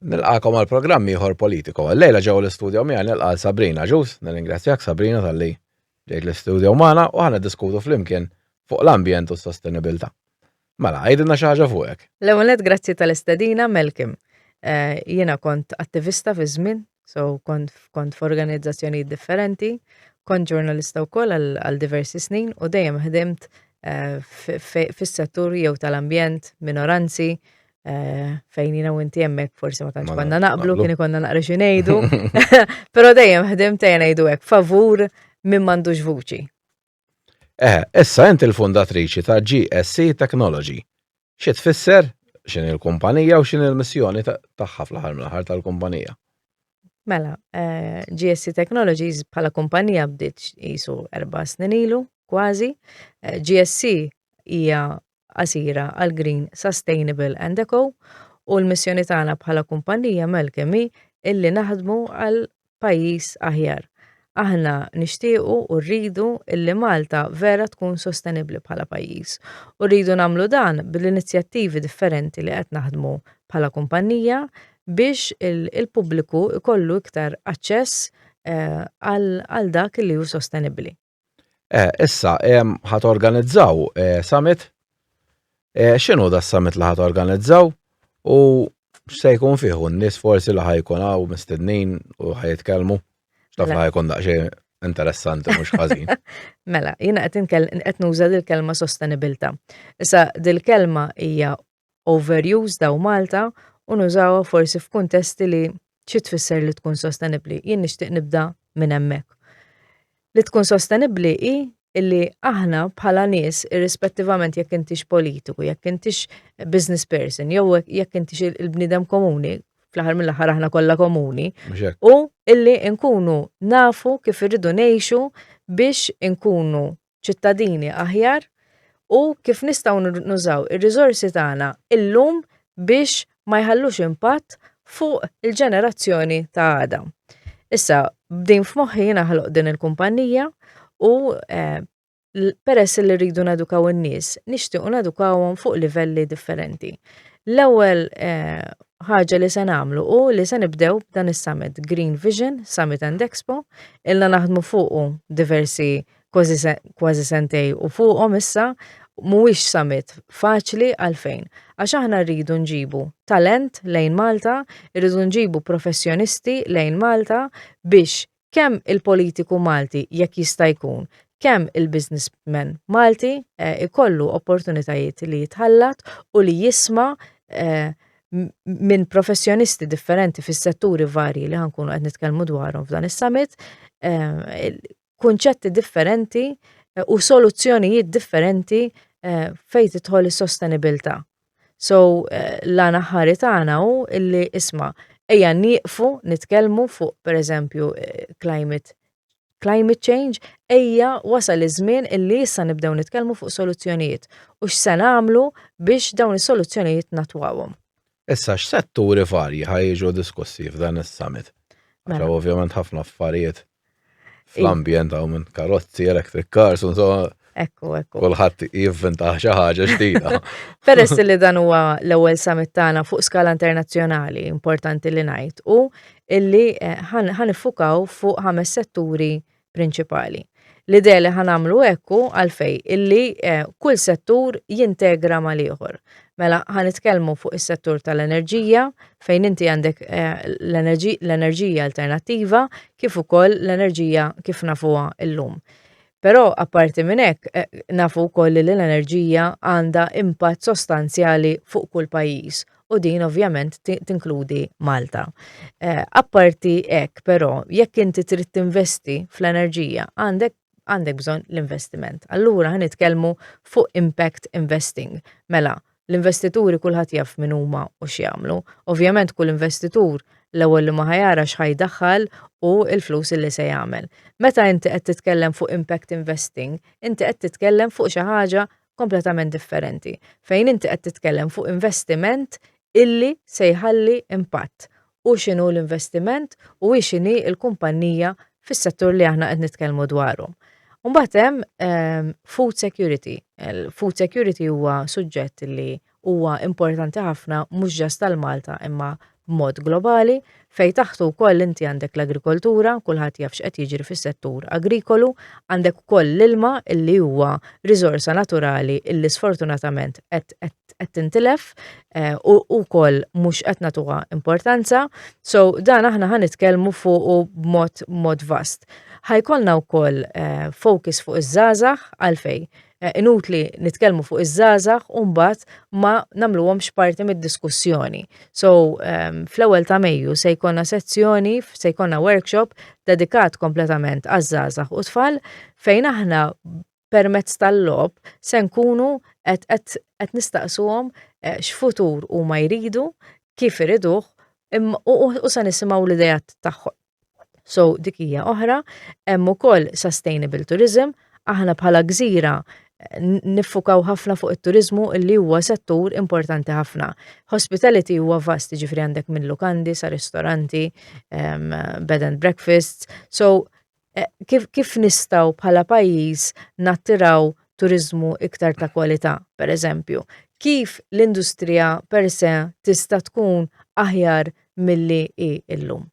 Nilqakom għal programm ieħor politiku. Lejla ġew l-istudio miegħi nilqa' Sabrina Ġus, nirringrazzjak Sabrina tal-li ġejt l-istudio magħna u ħana diskutu flimkien fuq l-ambjent u s-sostenibilità. Mela, għidilna xi ħaġa fuqek. L-ewwel grazzi tal-istedina Melkim. Eh, jiena kont attivista fi żmien So kont kont f'organizzazzjonijiet differenti, kont ġurnalista wkoll għal diversi snin u dejjem ħdimt eh, fis-settur jew tal-ambjent, minoranzi, eh, fejn jina u inti jemmek forsi ma tantx konna naqblu, kien konna naqra xi ngħidu. Però dejjem ħdimt ejja ngħidu hekk favur minn m'għandux vuċi. Eħe, issa int il-fundatriċi ta' GSC Technology. Xi tfisser, x'inhi l-kumpanija u x'inhi l-missjoni tagħha fl-aħħar mill-aħħar tal-kumpanija? Mela, eh, GSC Technologies bħala kumpanija bdiet jisu erba snin ilu, kważi. Eh, GSC hija qasira għal Green, Sustainable and Eco u l-missjoni tagħna bħala kumpannija mel kemm hi illi naħdmu għal pajjiż aħjar. Aħna nixtiequ u rridu illi Malta vera tkun sostenibbli bħala pajjiż u rridu nagħmlu dan bl-inizjattivi differenti li qed naħdmu bħala kumpannija biex il-pubbliku jkollu iktar aċċess eh, għal dak li hu sostenibbli. Eh, issa, ħat organizzaw eh, summit. Eh, xinu da summit li ħat organizzaw? U se jkun fiħu n-nis forsi li ħajkun għaw mistednin u ħajitkelmu. Xtaf li ħajkun daqxie interessanti mux ħażin. mela, jina qed qed nuża l kelma sostenibilta. Issa dil-kelma hija overused daw Malta u nużawha forsi f'kuntesti li xi tfisser li tkun sostenibbli. Jien nixtieq nibda minn hemmhekk. Li tkun sostenibbli hi illi aħna bħala nies irrispettivament jekk intix politiku, jekk intix business person, jew jekk intix il-bniedem komuni, fl-aħħar mill-aħħar aħna kollha komuni, u illi nkunu nafu kif irridu ngħixu biex nkunu ċittadini aħjar u kif nistgħu nużaw ir-riżorsi tagħna illum biex ma jħallux impatt fuq il-ġenerazzjoni ta' għada. Issa, b'din f'moħħi jiena ħloq din il-kumpanija u eh, peress li rridu nadukaw in-nies, nixtiequ nadukawhom fuq livelli differenti. L-ewwel eh, ħaġa li se nagħmlu u li se nibdew dan is-summit Green Vision, Summit and Expo, illa naħdmu fuqu diversi kważi sentej u fuqhom issa mhuwiex summit faċli għalfejn? Għax aħna rridu nġibu talent lejn Malta, irridu nġibu professjonisti lejn Malta biex kemm il-politiku Malti jekk jista' jkun, kemm il-businessman Malti jkollu opportunitajiet li jitħallat u li jisma' minn professjonisti differenti fis-setturi varji li ħa nkunu qed nitkellmu dwarhom f'dan is-summit kunċetti differenti eh, u soluzzjonijiet differenti eh, fejn tidħol is-sostenibilità. So eh, la naħħari tagħna hu illi isma' ejja nieqfu nitkellmu fuq pereżempju climate climate change, ejja wasal iż-żmien illi issa nibdew nitkellmu fuq soluzzjonijiet u x'se nagħmlu biex dawn is-soluzzjonijiet natwawhom. Issa x'setturi varji ħajġu diskussi f'dan is-summit? Mela. Ovvjament ħafna affarijiet fl-ambjent għaw minn karozzi, electric cars, unso. Ekku, ekku. Kulħadd jivvinta xi ħaġa ġdida. Peress li dan huwa l-ewwel summit tagħna fuq skala internazzjonali importanti li ngħid u illi eh, ħan iffukaw fuq ħames setturi prinċipali. L-idea li ħan għamlu ekku għalfej illi eh, kull settur jintegra mal-ieħor. Mela, ħa nitkellmu fuq is-settur tal-enerġija fejn inti għandek eh, l-enerġija alternattiva kif ukoll l-enerġija kif nafuha llum. Però apparti minn hekk eh, nafu wkoll li l-enerġija għandha impatt sostanzjali fuq kull pajjiż u din ovvjament tinkludi Malta. Eh, apparti hekk però jekk inti trid tinvesti fl-enerġija għandek għandek bżonn l-investiment. Allura ħa nitkellmu fuq impact investing. Mela, l-investituri kulħadd jaf min huma u x'jagħmlu. Ovvjament kull investitur l-ewwel li ma ħajara x'ħajdaħħal u l-flus li se jagħmel. Meta inti qed titkellem fuq impact investing, inti qed titkellem fuq xi ħaġa kompletament differenti, fejn inti qed titkellem fuq investiment illi se jħalli impatt hu x'inhu l-investiment u hi x'inhi l-kumpannija fis-settur li aħna qed nitkellmu dwaru. Mbagħad hemm ehm, food security. Food security huwa suġġett li huwa importanti ħafna mhux ġast tal Malta imma b'mod globali fej taħtu wkoll inti għandek l-agrikoltura, kulħadd jaf x'qed jiġri fis-settur agrikolu, għandek ukoll l-ilma illi huwa riżorsa naturali illi sfortunatament qed qed tintilef eh, u wkoll mhux qed nagħtuha importanza. So dan aħna ħan nitkellmu fuq b'mod mod vast. Ħajkolna wkoll eh, focus fuq iż-żgħażagħ għalfej. Eh, inutli nitkellmu fuq iż-żgħażagħ u mbagħad ma nagħmluhomx parti mid-diskussjoni. So ehm, fl-ewwel ta' Mejju se jkollna sezzjoni, se jkollna workshop dedikat kompletament għaż-żgħażagħ u tfal fejn aħna permezz tal-lob se nkunu qed nistaqsuhom eh, x'futur huma jridu, kif iriduh u se nisimgħu l-idejat tagħhom. So dik hija oħra, hemm ukoll sustainable tourism, aħna bħala gżira eh, niffukaw ħafna fuq it-turizmu li huwa settur importanti ħafna. Hospitality huwa vast ġifri għandek minn lukandi sa ristoranti, um, bed and breakfasts, so Eh, kif, kif nistaw bħala pajjiż nattiraw turizmu iktar ta' kwalità, per eżempju? Kif l-industrija per se tista' tkun aħjar milli hi illum?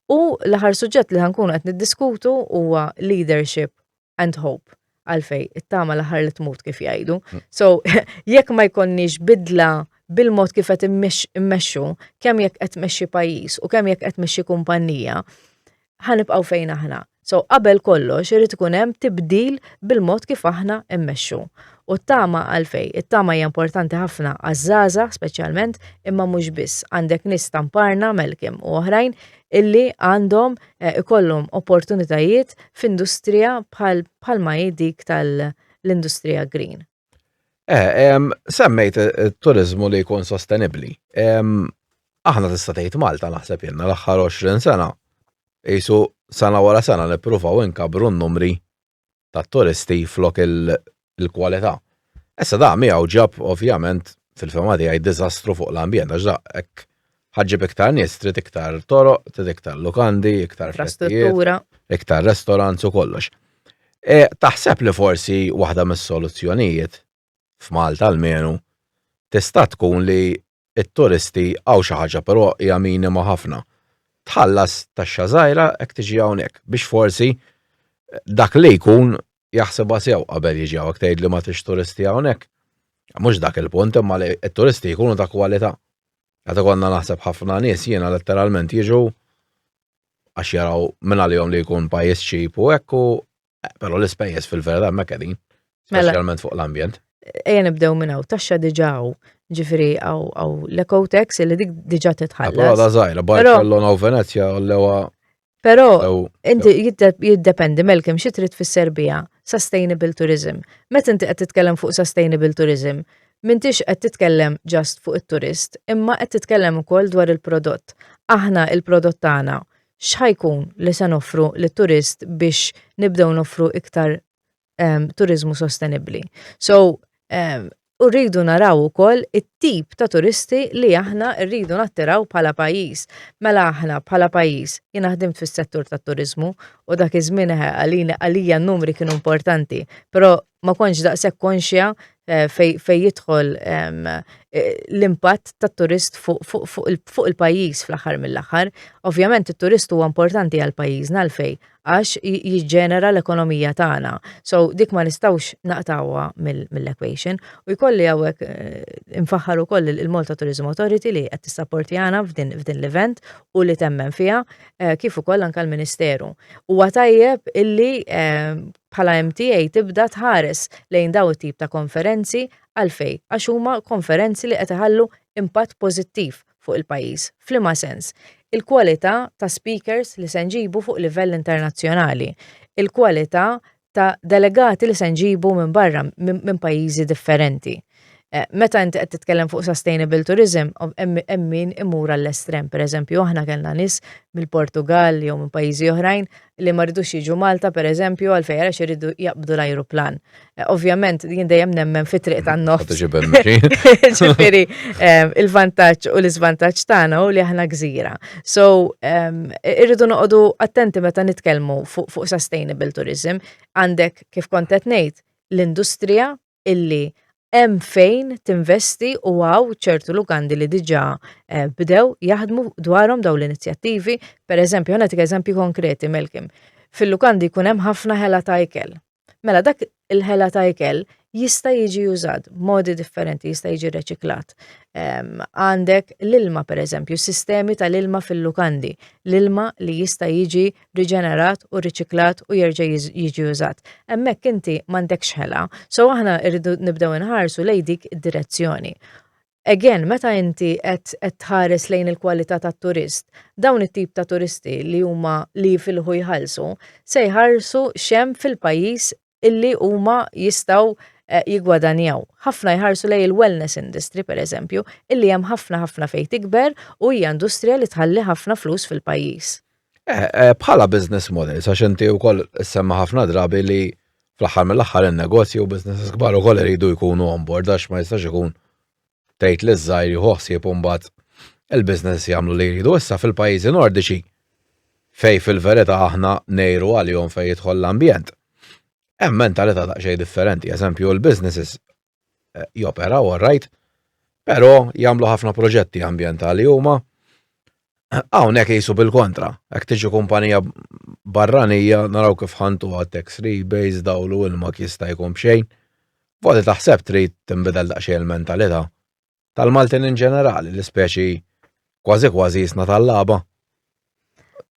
U l-aħħar suġġett li ħankun qed niddiskutu huwa leadership and hope. għalfej, it-tama l-aħħar li tmut kif jgħidu. Mm. So, jekk ma jkonniex bidla bil-mod kif qed immexxu, kemm jekk qed mexxi pajjiż u kemm jekk qed mexxi kumpanija, ħanibqgħu fejn aħna. So, qabel kollox irid ikun hemm tibdil bil-mod kif aħna immexxu. U t-tama għalfej, it-tama hija importanti ħafna għaż-żaża speċjalment, imma mhux biss għandek nis tamparna melkim u oħrajn illi għandhom eh, ikollhom opportunitajiet f'industrija bħal bħalma hi dik tal-industrija green. Eh, semmejt it-turizmu li jkun sostenibli. Aħna tista' tgħid Malta naħseb jenna l-aħħar 20 sena. Isu sena wara sena nippruvaw inkabru n-numri tat-turisti flok il-kwalità. Issa da miegħu ġab ovvjament fil-fema tiegħi diżastru fuq l-ambjent għax da hekk ħaġġib iktar nies trid iktar toroq, trid iktar lukandi, iktar festijiet, iktar restaurants u kollox. E, taħseb li forsi waħda mis-soluzzjonijiet f'Malta almenu, tista' tkun li t-turisti hawn xi ħaġa però hija minima ħafna. Tħallas taxxa żgħira jekk tiġi hawnhekk biex forsi dak li jkun jaħsibha sew qabel jiġi hawn. Jekk tgħid li ma tridx turisti hawnhekk, mhux dak il-punt imma li t-turisti jkunu ta' kwalità. Qed ikollna naħseb ħafna nies jiena letteralment jiġu għax jaraw mingħalihom li jkun pajjiż cheap u hekk u Però l-ispejjeż fil-verità hemmhekk qegħdin, Mela. speċjalment fuq l-ambjent. Ejja nibdew minn hawn, taxxa diġà hawn. Ġifieri hawn hawn l-ecotex li dik diġà Però titħallas. da żgħira, Però- Barcellona u Venezja u l-ewa Però ew inti jidde- jiddependi melkim xi trid fis-Serbija, sustainable tourism. Meta inti qed titkellem fuq sustainable tourism, m'intix qed titkellem just fuq it-turist, imma qed titkellem ukoll dwar il-prodott. Aħna il-prodott tagħna x'ħa jkun li se noffru lit-turist biex nibdew noffru iktar um, turiżmu sostenibbli. So, um, u rridu naraw ukoll it-tip ta' turisti li aħna rridu nattiraw bħala pajjiż. Mela aħna bħala pajjiż jien ħdimt fis-settur tat-turiżmu u dak iż-żmien għalina għalija n-numri kienu importanti, però ma kontx daqshekk konxja eh, fej jidħol ehm, eh, l-impatt tat-turist fuq il-pajjiż fl-aħħar mill-aħħar. Ovvjament it-turist huwa importanti għal pajjiżna għalfej għax jiġġenera l-ekonomija tagħna. So dik ma nistgħux naqtawha mill-equation u jkolli hawnhekk eh, infaħħar ukoll il-Malta Tourism Authority li qed tissapporti għana f'din l-event u li temmen fiha kif ukoll anke l-Ministeru. Huwa tajjeb illi ehm, bħala MTA tibda tħares lejn dawn it-tip ta' konferenzi għalfejn għax huma konferenzi li qed iħallu impatt pożittiv fuq il-pajjiż. F'liema sens? Il-kwalità ta' speakers li se nġibu fuq livell internazzjonali, il-kwalità ta' delegati li se nġibu minn barra minn pajjiżi differenti. Eh, meta inti qed titkellem fuq sustainable tourism, hemm min imur għall-estrem. Per eżempju, aħna kellna nies mill-Portugal jew minn pajjiżi oħrajn li ma rridux jiġu Malta per eżempju għal fejra iridu jaqbdu l-ajruplan. Eh, ovvjament, jien dejjem nemmen fi triq tan-nofs. Ġifieri, eh, il-vantaġġ u l-iżvantaġġ tagħna u li aħna gżira. So, irridu noqogħdu attenti meta nitkellmu fuq sustainable tourism. Għandek kif kontet ngħid l-industrija illi hemm fejn tinvesti u hawn ċertu lukandi li diġà eh, bdew jaħdmu dwarhom dawn l-inizjattivi. Per eżempju, ħana tik eżempji konkreti, Melkim. Fil-lukandi jkun hemm ħafna ħela ta' ikel. Mela dak il-ħela ta' ikel jista' jiġi użat modi differenti, jista' jiġi reċiklat. Ehm, għandek l-ilma, per eżempju, sistemi tal-ilma fil-lukandi, l-ilma li jista' jiġi riġenerat u riċiklat u jerġa' jiġi użat. Hemmhekk inti m'għandekx ħela. So aħna rridu nibdew inħarsu lej dik id-direzzjoni. Again, meta inti qed tħares lejn il-kwalità tat-turist, dawn it-tip ta' turisti li huma li jifilħu jħallsu se jħarsu xem fil-pajjiż illi huma jistgħu eh, jigwadanjaw. Ħafna jħarsu lej il-wellness industry per eżempju, illi hemm ħafna ħafna fejn tikber u hija industrija li tħalli ħafna flus fil-pajjiż. Eh, eh, bħala business model, sa xinti u koll semma ħafna drabi li fl-axar mill-axar il-negozju u business kbar u koll iridu jkunu on board, għax ma jistax ikun tgħid li ż-żgħir jieħu ħsieb imbagħad il-business jagħmlu li jridu issa fil-pajjiżi Nordiċi fej fil-verità aħna ngħiru għalihom fejn jidħol l-ambjent. Hemm mentalità daqsxejn differenti, eżempju l-businesses eh, joperaw all right, però jagħmlu ħafna proġetti ambjentali huma Hawnhekk qisu bil-kontra, hekk tiġi kumpanija barranija naraw kif ħantu għat tax rebates dawl u ilma jista' jkun b'xejn. Voti taħseb trid tinbidel daqsxejn il-mentalità? Tal-Maltin in ġenerali, li speċi kważi kważi jisna tal-lagħba.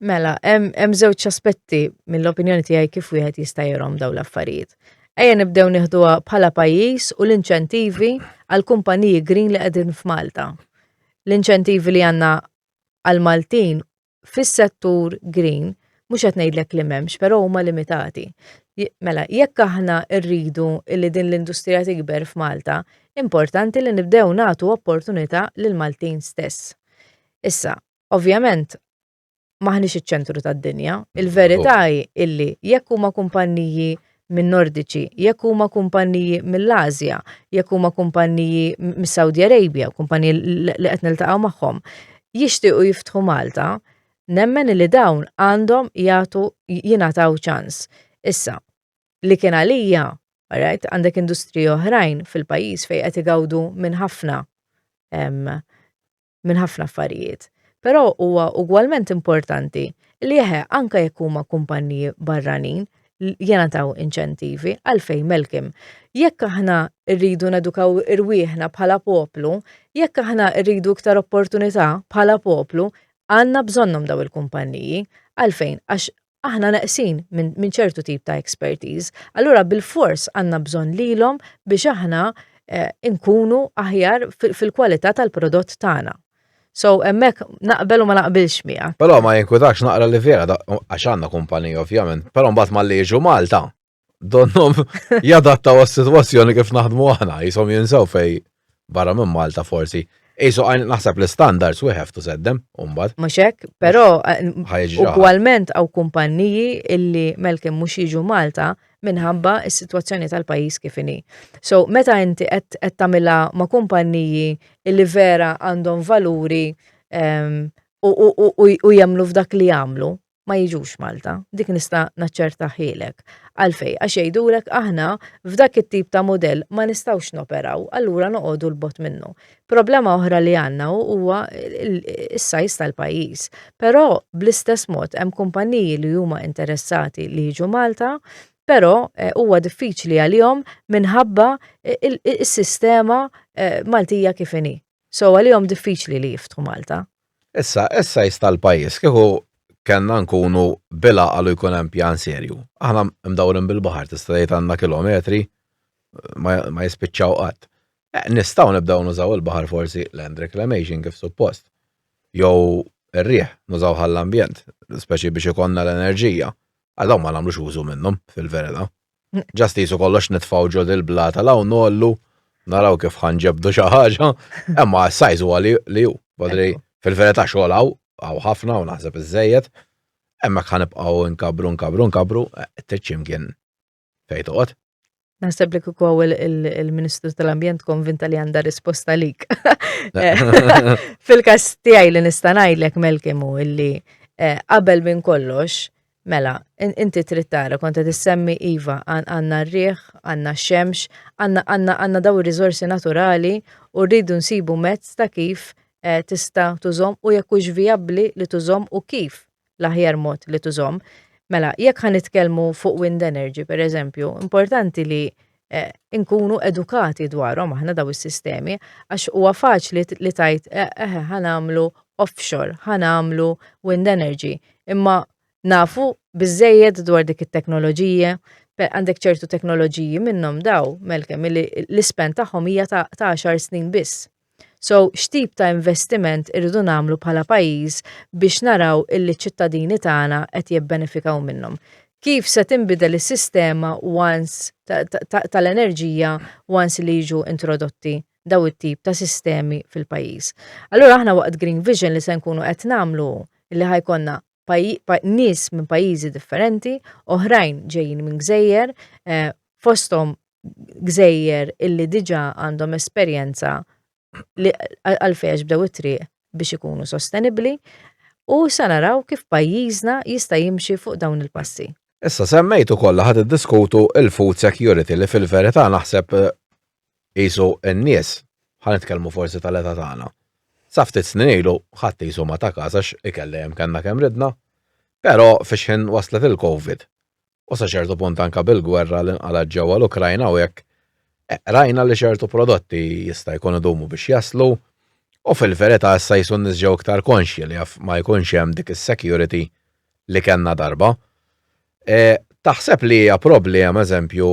Mela, hemm żewġ aspetti mill-opinjoni tiegħi kif wieħed jista' jirhom dawn l-affarijiet. Ejja nibdew nieħduha bħala pajjiż u l-inċentivi għal kumpaniji green li qegħdin f'Malta. l-inċentivi li għandna għall-Maltin fis-settur green mhux qed ngħidlek li m'hemmx, però huma limitati. Mela, jekk aħna rridu li din l-industrija tikber f'Malta, importanti li nibdew nagħtu opportunità lill-Maltin stess. Issa, ovvjament, maħniex iċ-ċentru tad-dinja. Il-verità hi illi jekk huma kumpanniji minn Nordiċi, jekk huma kumpanniji mill-Asja, jekk huma kumpanniji mis-Saudi Arabia, kumpanniji li qed niltaqgħu magħhom, jixtiequ jiftħu Malta, nemmen li dawn għandhom jagħtu jingħataw ċans. Issa, li kien għalija, right, għandek industriji oħrajn fil-pajjiż fejn qed igawdu minn ħafna minn ħafna affarijiet, però huwa ugwalment importanti li eħe anke jekk huma kumpanniji barranin jenataw inċentivi għalfejn melkim. Jekk aħna rridu nedukaw irwieħna bħala poplu, jekk aħna rridu iktar opportunità bħala poplu, għandna bżonnhom daw il-kumpanniji. Għalfejn? Għax aħna neqsin minn ċertu tip ta' expertise. Allura bil-fors għanna bżon lilhom biex aħna eh, nkunu aħjar fil-kwalità tal-prodott tagħna. So, emmek naqbel u ma naqbilx miegħek. Però ma jinkutax naqra li vera għax għandna kumpanija ovvjament, però mbagħad ma li jiġu Malta Donnom jadattaw għas-sitwazzjoni kif naħdmu aħna, jisom jinsaw fej barra minn Malta forsi. Isu għajn naħseb l-standards we have to set them, umbad. Muxek, pero ugualment għaw kumpanniji illi melkim mux jiġu Malta minħabba s-situazzjoni tal-pajis kifini. So, meta inti qed tamila ma' kumpanniji illi vera għandhom valuri ehm, u jemlu f'dak li jagħmlu, ma jiġux Malta, dik nista' naċċertahielek. Għalfejn? Għax jgħidulek aħna f'dak it-tip ta' mudell ma nistgħux noperaw, allura noqogħdu 'l bogħod minnu. Problema oħra li għandna huwa s-size tal-pajjiż. Però bl-istess mod hemm kumpanniji li huma interessati li jiġu Malta, però eh, huwa diffiċli għalihom minħabba eh, is-sistema eh, Maltija kif inhi. So għalihom diffiċli li jiftħu Malta. Issa, is-size tal-pajjiż kieku kellna nkunu bil-għaqal u jkun hemm pjan serju. Aħna mdawrin bil-baħar tista' tgħid għandna kilometri ma jispiċċaw qatt. Eh, nistgħu nibdew nużaw il-baħar forsi land reclamation kif suppost. Jew ir-riħ nużaw għall-ambjent, speċi biex ikonna l-enerġija. Għadaw ma nagħmlux użu minnhom fil-verita. Ġast jisu kollox nitfaw ġod il-blata law nollu, naraw kif ħanġebdu xi ħaġa, imma s-sajz huwa li hu. Badri fil-verità xogħol hawn hawn ħafna u naħseb iżejjed, hemmhekk ħanibqgħu nkabru nkabru nkabru, trid xi mkien fejn toqgħod. Naħseb li kieku hawn il-Ministru tal-Ambjent konvinta li għandha risposta lik. Fil-każ tiegħi li nista' ngħidlek Melkimu illi eh, qabel minn kollox Mela, inti trid tara kont qed issemmi iva għandna r-riħ, għandna x-xemx, għandna għandna għandna daw ir-riżorsi naturali u rridu nsibu mezz ta' kif eh, tista' tużhom u jekk hux vijabbli li tużhom u kif l-aħjar mod li tużhom. Mela, jekk ħa nitkellmu fuq wind energy, per eżempju, importanti li eh, inkunu edukati dwarhom aħna daw is-sistemi għax huwa faċli li tajt eh, eh ħanamlu offshore, ħanamlu wind energy, imma nafu biżejjed dwar dik it-teknoloġija, għandek ċertu teknoloġiji minnhom daw, melkem, l-ispen tagħhom hija ta' 10 snin biss. So, x'tip ta' investiment irridu nagħmlu bħala pajjiż biex naraw illi ċ-ċittadini tagħna qed jibbenefikaw minnhom? Kif se tinbidel is-sistema once tal-enerġija once li jiġu introdotti dawn it-tip ta' sistemi fil-pajjiż? Allura aħna waqt Green Vision li se nkunu qed nagħmlu hu illi ħa jkollna nies minn pajjiżi differenti, oħrajn ġejjin minn gżejjer, eh, fosthom gżejjer illi diġa għandhom esperjenza li għalfejn bdew it-triq biex ikunu sostenibli u sa naraw kif pajjiżna jista' jimxi fuq dawn il-passi. Issa semmejtu kollha ħad iddiskutu il-food security li fil-verità naħseb eh, Qisu n-nies, ħa nitkellmu forsi tal-età tagħna, sa ftit snin ilu ħadd qisu ma ta kas għax ikel dejjem kellna kemm ridna. Però fix-xħin waslet il-Covid u sa ċertu punt anke bil-gwerra li nqalgħet ġewwa l-Ukrajna u hekk, rajna li ċertu prodotti jista' jkun idumu biex jaslu u fil-verità issa qisu n-nies ġew iktar konxji li jaf ma jkunx hemm dik is-security li kellna darba. Taħseb li hija problema, eżempju,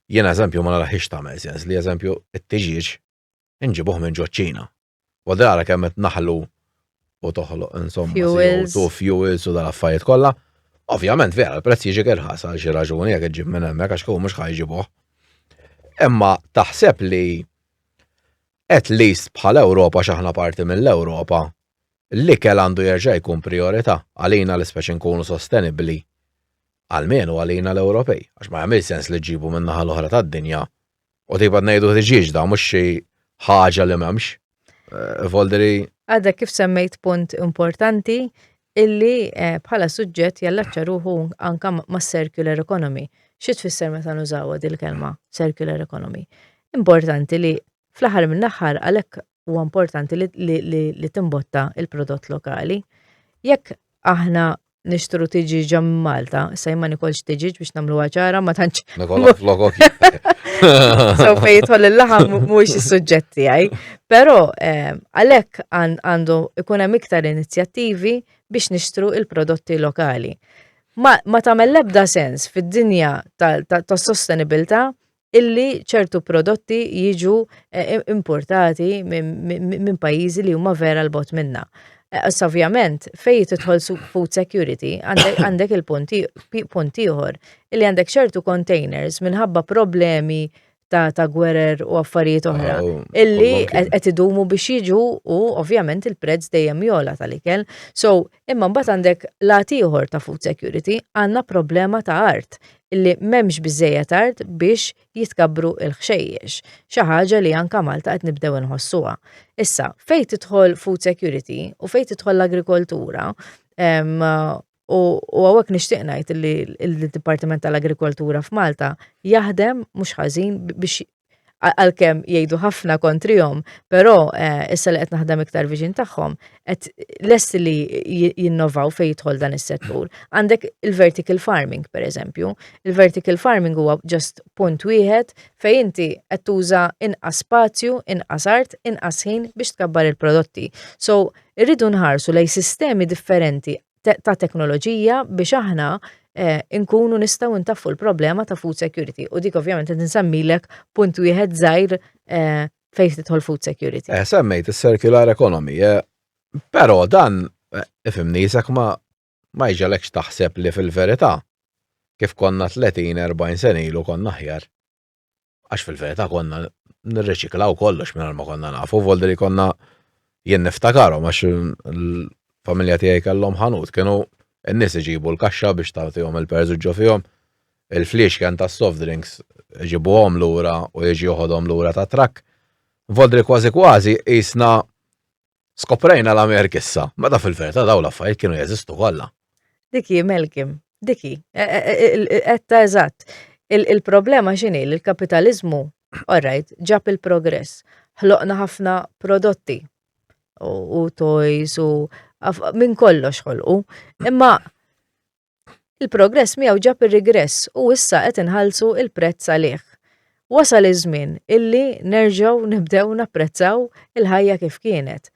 Jien eżempju ma naraħiex tagħmel sens li eżempju t-tiġieġ inġibuh minn ġoċ-Ċina. U dara kemm qed naħlu u toħloq insomma fuels u fuels u dal-affarijiet kollha. Ovvjament vera l-prezz jiġi irħas għal xi raġuni jekk iġġib minn hemmhekk għax kieku mhux ħajġibuh. Imma taħseb li at least bħal Ewropa x'aħna parti mill-Ewropa l-ikel għandu jerġa' jkun priorità għalina l-ispeċi nkunu sostenibbli almenu għalina l-Ewropej, għax ma jagħmilx sens li ġġibu min-naħa l-oħra tad-dinja u tibgħat ngħidu ħriġieġda mhux xi ħaġa li m'hemmx. Eh, Volderi. Għadek kif semmejt punt importanti illi eh, bħala suġġett jallaċċa ruħu anka ma' circular economy. Xi tfisser meta nużawa dil-kelma circular economy? Importanti li fl-aħħar mill-aħħar għalhekk huwa importanti li timbotta il-prodott lokali. Jekk aħna nixtru tiġi ġam Malta, sa jimma nikolx tiġi biex namlu għacħara ma tanċ. Nikolok flokok. So fej jitħol il-laħam mux il-sujġetti għaj. Pero eh, għalek għandu ikun hemm iktar inizjattivi biex nixtru il-prodotti lokali. Ma, ma tamel lebda sens fid-dinja tas-sostenibilità illi ċertu prodotti jiġu eh, importati minn pajjiżi li huma vera l-bot minna. Eh, ovvjament, fejn tidħol food security, għandek il-punti ieħor, illi għandek ċertu containers minħabba problemi ta' ta' gwerer u affarijiet oħra. Oh, illi qed idumu biex jiġu u ovvjament il-prezz dejjem jola tal-ikel. So, Imma mbagħad għandek l-għad ieħor ta' food security, għandna problema ta' art, illi m'hemmx biżżejjed art biex jitkabbru l-ħxejjex, xi ħaġa li anke Malta qed nibdew inħossuha. Issa, fejn tidħol food security u fejn tidħol l-agrikoltura, u hawnhekk nixtieq ngħid li d-Dipartiment tal-Agrikoltura f'Malta jaħdem mhux ħażin biex għalkemm jgħidu ħafna kontrihom, però eh, issa li qed naħdem iktar viġin tagħhom, qed lest li jinnovaw fejn jidħol dan is-settur. Għandek il-vertical farming, per eżempju. Il-vertical farming huwa ġast punt wieħed fejn inti qed tuża inqas spazju, inqas art, inqas ħin biex tkabbar il-prodotti. So, irridu nħarsu lej sistemi differenti ta' teknoloġija biex aħna eh, nkunu nistgħu ntaffu l-problema ta' food security u dik ovvjament qed nsemmilek punt wieħed żgħir eh, fejn tidħol food security. Eh, semmejt is-circular economy, eh, però dan eh, ifimni jisek ma ma jġalekx taħseb li fil-verità kif konna 30-40 senilu konna ħjar. Għax fil-verità konna nirreċiklaw kollox minn ma konna nafu, voldi li konna jien niftakarom għax il-familja tiegħi kellhom ħanut, kienu n-nies iġibu l-kaxxa biex tagħtihom il-perżu ġo fihom, il-fliex kien ta' soft drinks iġibuhom lura u jiġi joħodhom lura ta' trakk. Voldi li kważi kważi jisna Skoprejna l-Amerik issa, meta fil-verità dawn l-affarijiet kienu jeżistu kollha. Dik hi Malcolm, dik hi. E- e- e- il- il- Etta eżatt. Il- Il-problema x'inhi li l-kapitaliżmu, all right, ġab il-progress. Ħloqna ħafna prodotti u u toys u af- minn kollox ħolqu. Imma Il-progress miegħu ġab ir-rigress u issa qed inħallsu l-prezz għalih. Wasal iż-żmien illi nerġgħu nibdew napprezzaw il-ħajja kif kienet.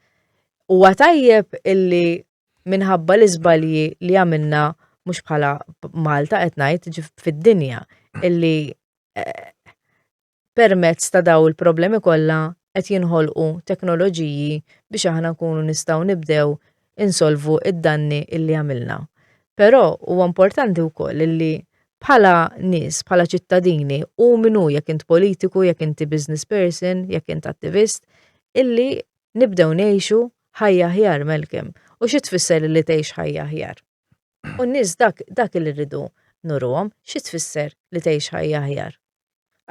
Huwa tajjeb illi minħabba l-iżbalji li għamilna mhux bħala Malta qed ngħid fid-dinja illi eh, permezz ta' dawn il-problemi kollha qed jinħolqu teknoloġiji biex aħna nkunu nistgħu nibdew insolvu d-danni illi għamilna. Però huwa importanti wkoll illi bħala nies, bħala ċittadini, u minnu jekk int politiku, jekk inti business person, jekk int attivist, illi nibdew ngħixu ħajja ħjar melkem. U xi tfisser li tgħix ħajja ħjar? U n-nies dak dak li rridu nurhom, xi tfisser li tgħix ħajja ħjar?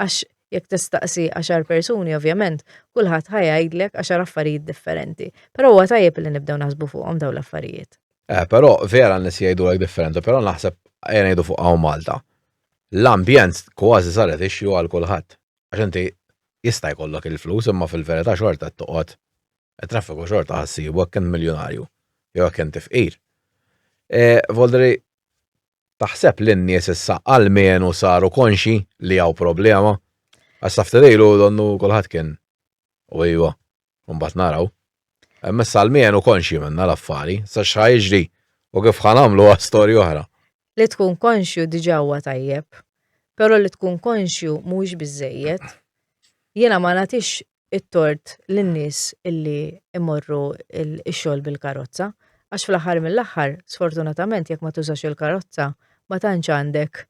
Għax jekk tistaqsi għaxar persuni, ovvjament, kulħadd ħa jgħidlek għaxar affarijiet differenti. Però huwa tajjeb li nibdew naħsbu fuqhom dawn l-affarijiet. Eh, però vera n-nies jgħidulek differenti, però naħseb ejja ngħidu fuq hawn Malta. L-ambjent kważi saret ixju għal kulħadd. Għax inti jista' jkollok il-flus imma fil-verità xorta toqgħod traffiku xorta ħassibu hekk kien miljonarju jew hekk kien tifqir. E, Voldri, Taħseb li n-nies issa almenu saru konxji li hawn problema? Għax sa ftit ilu donnu kulħadd kien u ejwa, mbagħad naraw. Imma issa almenu konxji minnha l-affari, sa x'ħa jiġri u kif ħa nagħmlu għal storja oħra. Li tkun konxju diġà huwa tajjeb, però li tkun konxju mhuwiex biżżejjed. Jiena ma nagħtix it-tort lin-nies illi imorru x-xogħol bil-karozza, għax fl-aħħar mill-aħħar, sfortunatament jekk ma tużax il-karozza, ma tantx għandek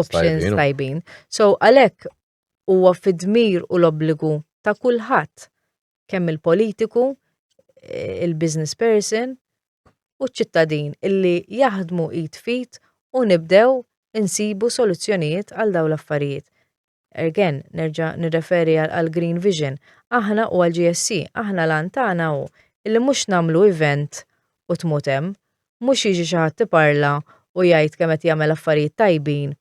options tajbin. So għalhekk huwa fid-dmir u l-obbligu ta' kulħadd kemm il-politiku, eh, il-business person u ċ-ċittadin illi jaħdmu id fit u nibdew insibu soluzzjonijiet għal daw l-affarijiet. Again, nerġa' nirreferi għall-Green Vision, aħna u għall-GSC, aħna l-għan tagħna hu illi mhux nagħmlu event u tmut hemm, mhux jiġi xi ħadd iparla u jgħid kemm qed jagħmel affarijiet tajbin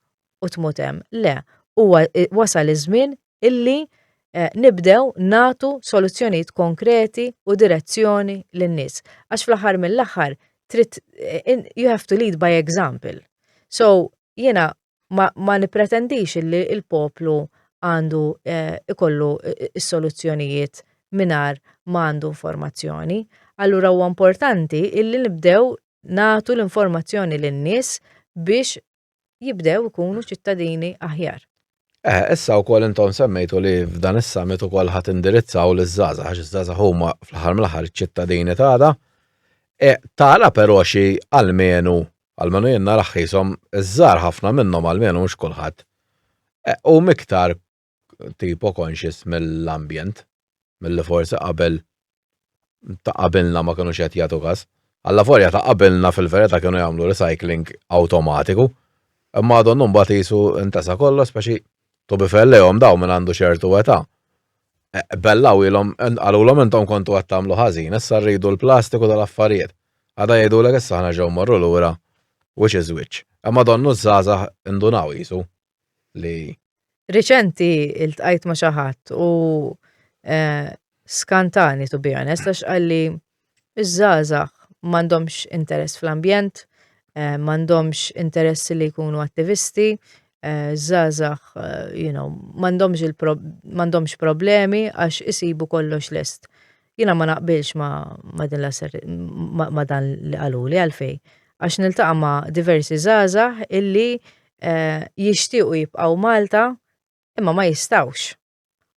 u tmut hemm. Le, huwa wasal iż-żmien illi nibdew nagħtu soluzzjonijiet konkreti u direzzjoni lin-nies. Għax fl-aħħar mill-aħħar trid you have to lead by example. So, jiena ma, ma nipretendix illi il-poplu għandu eh, ikollu eh, is-soluzzjonijiet minar ma għandu informazzjoni. Allura huwa importanti illi nibdew natu l-informazzjoni lin-nies biex jibdew ikunu ċittadini aħjar. Eh, issa u koll intom semmejtu li f'dan is-summit u koll ħat indirizzaw l żaza għax iż-żaza huma fl-ħar mill-ħar ċittadini tagħda. E, tara però xi almenu almenu jien narah qishom iż-żgħar ħafna minnhom almenu mhux kulħadd, huma iktar tipo conscious mill-ambjent milli forsi qabel ta' qabilna ma kinux qed jagħtu kas. Allavolja ta' qabilna fil-verità kienu jagħmlu recycling awtomatiku, imma donnu mbagħad qisu ntesa' kollox speċi To be fair lejhom dawn minn għandu ċertu età. E, bellaw ilhom qalulhom intom kontu qed tagħmlu ħażin, issa rridu l-plastiku tal-affarijiet. Għada jgħidulek issa aħna ġew morru lura which is which. Imma donnu żgħażagħ indunaw jisu li Riċenti iltqajt ma' xi ħadd u e, skantani to be honest għax qalli Iż-żgħażagħ m'għandhomx interess fl-ambjent, eh, m'għandhomx interess li jkunu attivisti, eh, żgħażagħ, eh, you know, m'għandhomx m'għandhomx problemi għax isibu kollox lest. Jiena ma naqbilx ma, ma din ma, ma dan li qaluli għalfej. Għax niltaqa' ma' diversi żgħażagħ illi eh, jixtiequ jibqgħu Malta imma ma jistawx.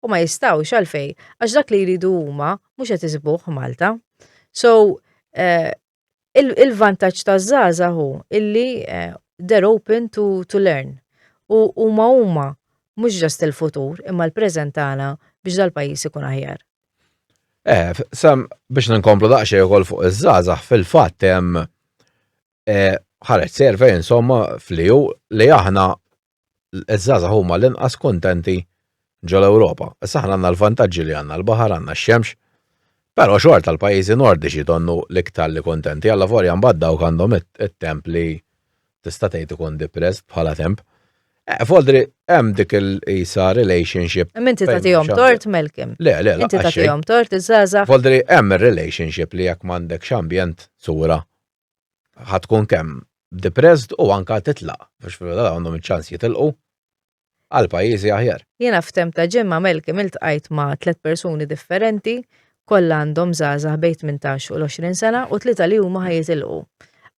U ma jistawx għalfej, għax dak li jridu huma mhux qed isibuh Malta. So, eh, il-vantaġġ ta' żaza hu illi eh, they're open to, to learn. U huma huma mhux ġast il-futur imma l-preżent tagħna biex dal-pajjiż ikun aħjar. Eh, sam biex ninkomplu daqsxejn ukoll fuq iż-żgħażagħ fil-fatt hemm eh, ħareġ servej insomma fliju li aħna iż-żgħażagħ huma l-inqas kuntenti ġol-Ewropa. Issa aħna għandna l-vantaġġi li għandna l-baħar, għandna x-xemx, però xorta l-pajjiżi Nordiċi donnu l-iktar li kuntenti, allavolja mbagħad dawk għandhom it-temp li tista' tgħid ikun depressed bħala temp. Eh, Foldri, hemm dik il-isa relationship. Minti ta' tijom tort, Melkim. Le, le, le. Inti ta' tijom tort, iż-żaza. Foldri, hemm il-relationship li jekk mandek xambjent sura ħatkun kemm depressed u anka titlaq biex fil-verità għandhom iċ-ċans jitilqu għal pajjiżi aħjar. Jiena f'temp ta' ġimgħa Malcolm iltqajt ma' tliet persuni differenti, kollha għandhom żgħażagħ bejn tmintax u l-għoxrin sena u tlieta li huma ħa jitilqu.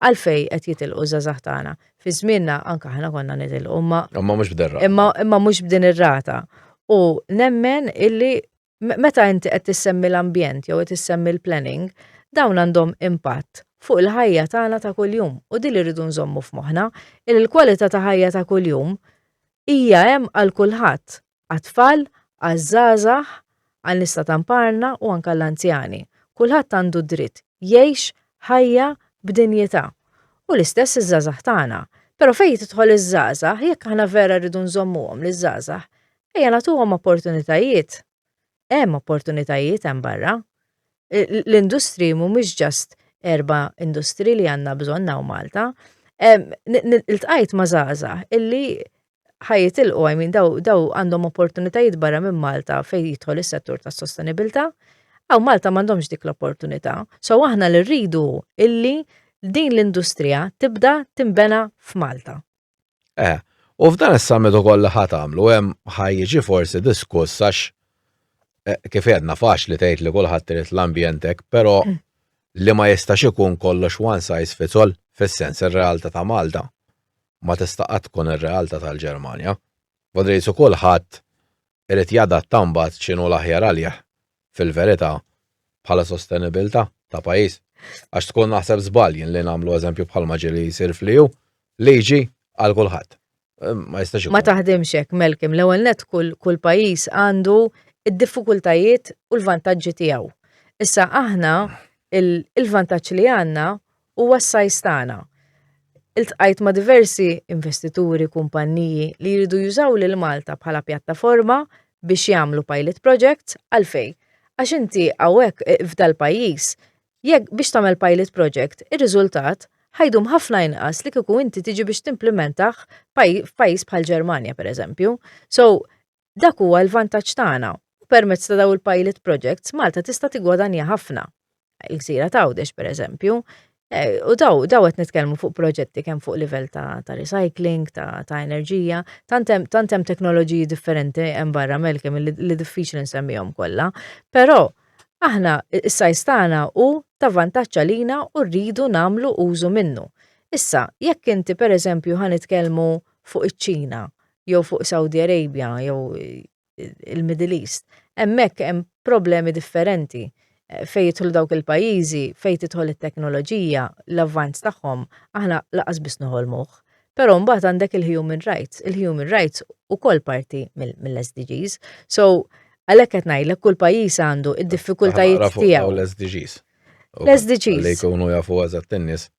Għalfejn qed jitilqu ż-żgħażagħ tagħna? Fi żmienna anke aħna konna nitilqu imma imma mhux b'din ir-rata. Imma mhux b'din ir-rata. U nemmen illi Meta inti qed tissemmi l-ambjent jew qed issemmi l-planning, dawn għandhom impatt fuq il-ħajja tagħna ta' kuljum u din li rridu nżommu f'moħħna, li l-kwalità ta' ħajja ta' kuljum hija hemm għal kulħadd, għat-tfal, għaż-żgħażagħ, għan-nies ta' tamparna u anke għall-anzjani. Kulħadd għandu dritt jgħix ħajja b'dinjità. U l-istess iż-żgħażagħ tagħna. Però fejn tidħol iż-żgħażagħ, jekk aħna vera rridu nżommuhom liż-żgħażagħ, ejja nagħtuhom opportunitajiet. Hemm opportunitajiet hemm barra. L-industriji mhumiex just erba' industriji li għandna bżonn hawn Malta. Iltqajt ma' żgħażagħ illi ħajitilqu, I mean, daw, daw għandhom opportunitajiet barra minn Malta fejn jidħol is-settur tas-sostenibilità, għaw Malta m'għandhomx dik l-opportunità. So aħna li rridu illi din l-industrija tibda timbena f'Malta. Eh, u f'dan is-summit ukoll li ħadd għamlu hemm ħajjiġi forsi diskuss għax eh, kif għedna faċli tgħid li kulħadd irid l-ambjentek, però mm. li ma jistax ikun kollox one size fits all fis-sens ir-realtà ta' Malta. ma tista' qatt tkun ir-realtà tal-Ġermanja. Von Reitz u kulħadd irid jadatta mbagħad x'inhu l-aħjar għalih fil-verità bħala sostenibilità ta' pajjiż. Għax tkun naħseb żball jien li nagħmlu eżempju bħalma ġieli jsir fl-EU, liġi għal kulħadd. Ma jistax ikun. Ma taħdimx hekk, Melkim, l-ewwel net kull kull pajjiż għandu id-diffikultajiet u l-vantaġġi tiegħu. Issa aħna il-vantaġġ li għandna Huwa s-sajs tagħna. Iltqajt ma' diversi investituri, kumpanniji li jridu jużaw lil Malta bħala pjattaforma biex jagħmlu pilot projects, għalfej? Għax inti hawnhekk f'dal-pajjiż jekk biex tagħmel pilot project ir-riżultat ħa jdum ħafna inqas li kieku inti tiġi biex timplimentah f'pajjiż bħall-Ġermanja pereżempju. So, Dak huwa l-vantaġġ tagħna u permezz ta' dawn il-pilot projects Malta tista' tiggwadanja ħafna. Il-gżira t'Għawdex pereżempju, eh, u daw daw qed nitkellmu fuq proġetti kemm fuq livell ta' ta' recycling, ta' ta' enerġija, tant hemm tant hemm teknoloġiji differenti hemm barra Melkem li, li diffiċli nsemmihom kollha. Però aħna is-sajs tagħna hu ta' vantaġġ għalina u rridu nagħmlu użu minnu. Issa, jekk inti pereżempju ħa nitkellmu fuq iċ-Ċina, jew fuq Saudi Arabia jew il-Middle East, hemmhekk hemm problemi differenti. Fejn jidħlu dawk il-pajjiżi, fejn tidħol it-teknoloġija, l-avvanz tagħhom, aħna laqas biss noħolmuh. Però mbagħad għandek il-human rights, il-human rights ukoll parti mill-SDGs. So, għalhekk qed ngħidlek kull pajjiż għandu id-diffikultajiet tiegħu. L-SDGs. L-SDGs. Li jkunu jafu eżatt in-nies.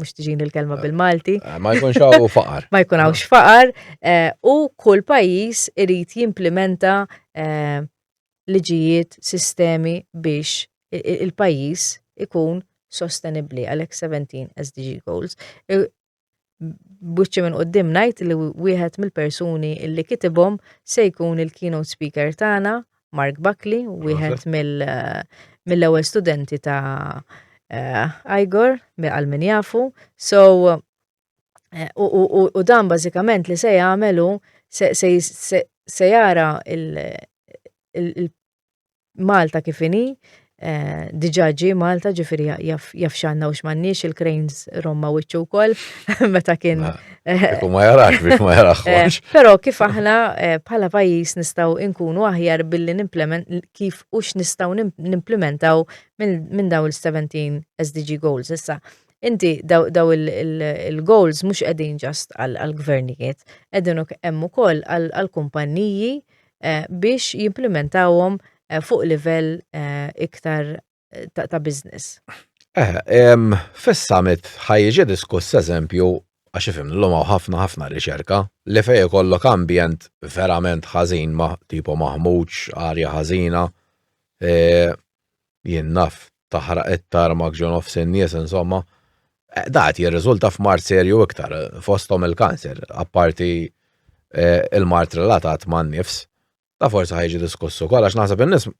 mux tiġin il-kelma eh, bil-Malti. Eh, ma jkunx għaw faqar. ma jkun għaw faqar eh, u kull pajis irrit jimplementa liġijiet, sistemi biex il-pajis ikun sostenibli għalek 17 SDG goals. Buċċi minn qoddim najt li wieħed mill-persuni illi kitibhom se jkun il-keynote speaker tagħna Mark Buckley, wieħed mill-ewwel studenti ta' eh, Igor, għal min jafu. So, eh, u dan bażikament li se jagħmelu se jara il-Malta kifini, Eh, diġa ġi Malta ġifiri jaf xanna u xmannix il-Cranes Roma wiċċu wkoll meta kien. Eh, u ma jarax biex ma jarax. Eh, Pero kif aħna bħala pajis nistaw inkunu aħjar billi nimplement kif u x'nistaw nimplementaw minn daw il-17 SDG goals issa. Inti daw il-goals mhux qegħdin ġast għal-gvernijiet, qegħdin hemm ukoll għal-kumpanniji eh, biex jimplementawhom eh, fuq livell eh, iktar ta' business. Fis-summit ħajġi diskuss eżempju għax ifim l-lum ħafna ħafna riċerka li fej kollok ambjent verament ħażin ma tipo maħmuġ, arja ħażina, jien naf, taħraq it-tarmak ġo nofs in-nies, insomma, da qed jirriżulta f'mard serju iktar, fosthom il-kanser, apparti il-mard relatat man-nifs. Da forsi ħajġi diskuss ukoll għax naħseb in-nies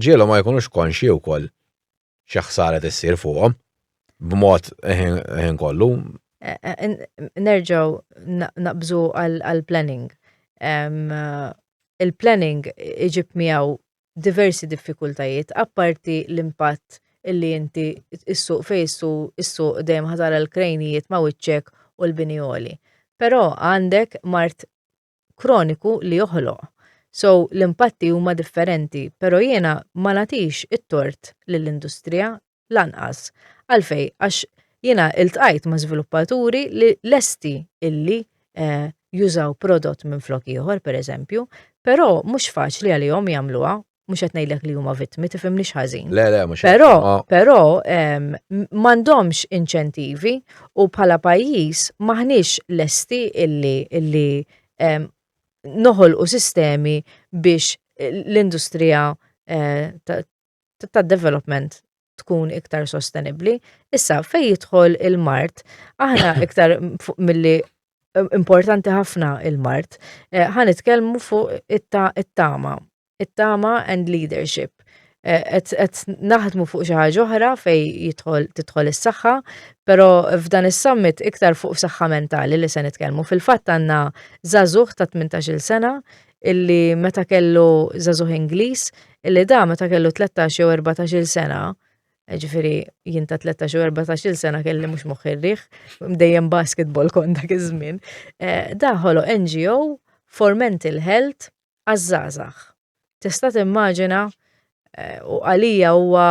ġielhom ma jkunux konxji wkoll xi ħsara tissir fuqhom b'mod ħin kollu. Nerġgħu naqbżu għall-planning. Il-planning iġib miegħu diversi diffikultajiet apparti l-impatt illi inti issuq fejn issuq dejjem ħa tara l-krejnijiet ma' wiċċek u l-bini għoli. Però għandek mard kroniku li joħloq. So l-impatti huma differenti, però jiena ma nagħtix it-tort lill-industrija lanqas. Għalfej, għax jiena iltqajt ma' żviluppaturi li lesti illi eh, jużaw prodott minn flok ieħor pereżempju, però mhux faċli għalihom jagħmluha mhux qed ngħidlek li huma vittmi tifhimniex ħażin. Le, le, mhux Però, però ehm, m'għandhomx inċentivi u bħala pajjiż maħniex lesti illi illi ehm, noħolqu sistemi biex l-industrija eh, ta- tad-development tkun iktar sostenibbli. Issa fejn jidħol il-mart, aħna iktar milli importanti ħafna il-mart, eh, ħan nitkellmu fuq it-tama, it-tama and leadership. Et eh, naħdmu fuq xi ħaġa oħra fej jidħol tidħol is-saħħa, però f'dan is-summit iktar fuq saħħa mentali li se nitkellmu. Fil-fatt għandna żagħżugħ ta' 18-il sena illi meta kellu zazuħ Ingliż illi da meta kellu 13 jew 14 sena ġifiri jinta 13 u 14 sena kelli mux moħħirriħ, dejjem basketball kon dak iż-żmien. Eh, Daħolo NGO for mental health għazzazax. Tista' timmaġina eh, u għalija huwa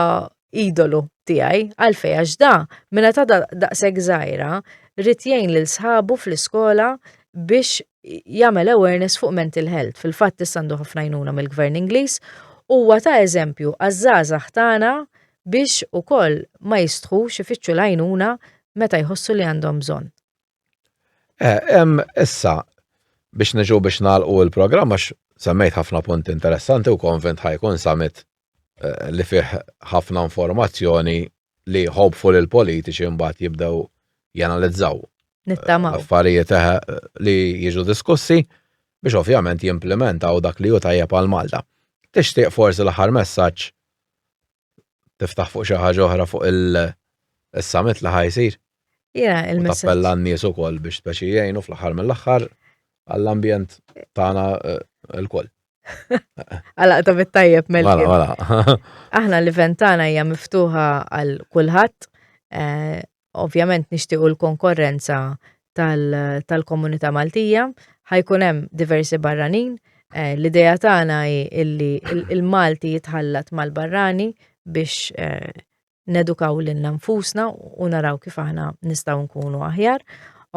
idolu tiegħi għalfej għax da minna ta' daqshekk żgħira rrid jgħin lil sħabu fl-iskola biex jagħmel awareness fuq mental health. Fil-fatt tissandu ħafna jnuna mill-Gvern Ingliż huwa ta' eżempju għaż-żgħażagħ tagħna biex ukoll ma jistħux ifittxu l-għajnuna meta jħossu li għandhom bżonn. Eh, em, issa, biex niġu biex nalqu il-programm, għax semmejt ħafna punti interessanti u konvent ħajkun summit eh, li fih ħafna informazzjoni li hopeful il-politiċi mbagħad jibdew janalizzaw. Nittama. Eh, affarijiet eh, li jiġu diskussi biex ovvjament jimplementaw dak li ju tajjeb għal Malta. Tixtieq forsi l-aħħar messaġġ tiftaħ fuq xi ħaġa oħra fuq il-summit li ħajsir. Ja, il-messaġġ. Tappella n-nies ukoll biex speċi jgħinu fl-aħħar mill-aħħar għall-ambjent tagħna eh, l-koll. Għala ta' bit-tajjeb mel Għala, għala. Aħna l-event tagħna hija miftuħa għal kulħadd eh, ovvjament nixtiequ l-konkorrenza tal-komunità Maltija, ħajkun hemm diversi barranin. Eh, l-idea tagħna hi illi il-Malti jitħallat mal-barrani biex eh, nedukaw lil nfusna u naraw kif aħna nistgħu nkunu aħjar.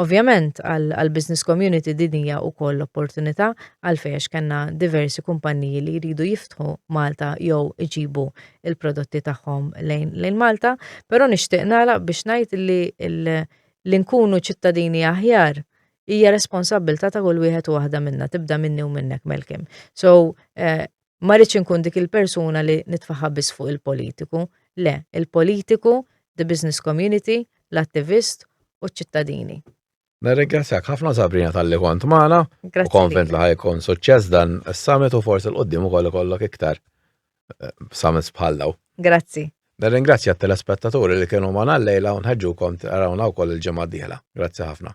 Ovvjament għall-business community din hija wkoll opportunità għalfejn għax kellna diversi kumpanniji li jridu jiftħu Malta jew iġibu l-prodotti tagħhom lejn Malta, però nixtieq nagħlaq biex ngħid li li nkunu ċittadini aħjar hija responsabbiltà ta' kull wieħed u waħda minna, tibda minni u minnek Malcolm. So, Ma rridx inkun dik il-persuna li nitfaħħa biss fuq il-politiku, le, il-politiku, the business community, l-attivist u ċ-ċittadini. Nirringrazzjak ħafna Sabrina tal-li kont magħna u konvent li ħajkun suċċess dan is-summit u forsi l-qoddim ukoll ikollok iktar eh, summits bħal daw. Grazzi. Nirringrazzja t-telespettaturi li kienu magħna l-lejla u nħeġġukom tarawna wkoll il-ġimgħa d-dieħla. Grazzi ħafna.